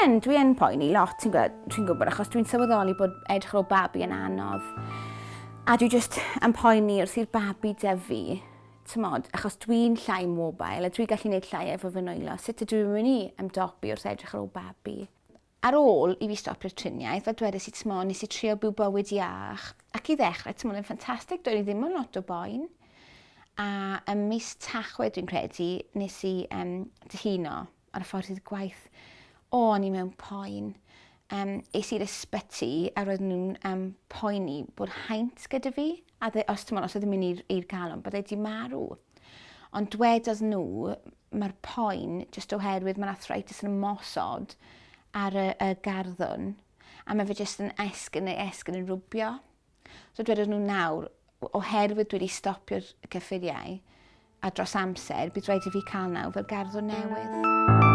yn, dwi yn poeni lot, ti'n gwybod, dwi'n gwybod, achos dwi'n sylweddoli bod edrych ar ôl babi yn anodd. A dwi just yn poeni wrth i'r babi dyfu, T'mod, achos dwi'n llai mobile a dwi gallu neud llai efo fy nwylo, sut ydw i'n myn' i ymdopi wrth edrych ar ôl babi? Ar ôl i fi stopio'r triniaeth, fel dwedais i, t'mo', nes i trio byw bywyd iach, ac i ddechrau, t'mo', oedd e'n ffantastig, doedd i ddim yn lot o boen. A ym mis Tachwedd, dwi'n credu, nes i um, dihuno. ar y ffordd i'r gwaith, o, o'n i mewn poen. Um, es i'r ysbyty a roedden nhw'n um, poeni bod haint gyda fi, a dde, os ti'n os oedd yn mynd i'r galon, bod wedi marw. Ond dwedodd nhw, mae'r poen, jyst oherwydd mae'r arthritis yn ymosod ar y, y garddwn, a mae fe jyst yn esgyn neu esgyn yn rwbio. So dwedodd nhw nawr, oherwydd dwi wedi stopio'r cyffuriau a dros amser, bydd rhaid i fi cael naw fel garddwr newydd.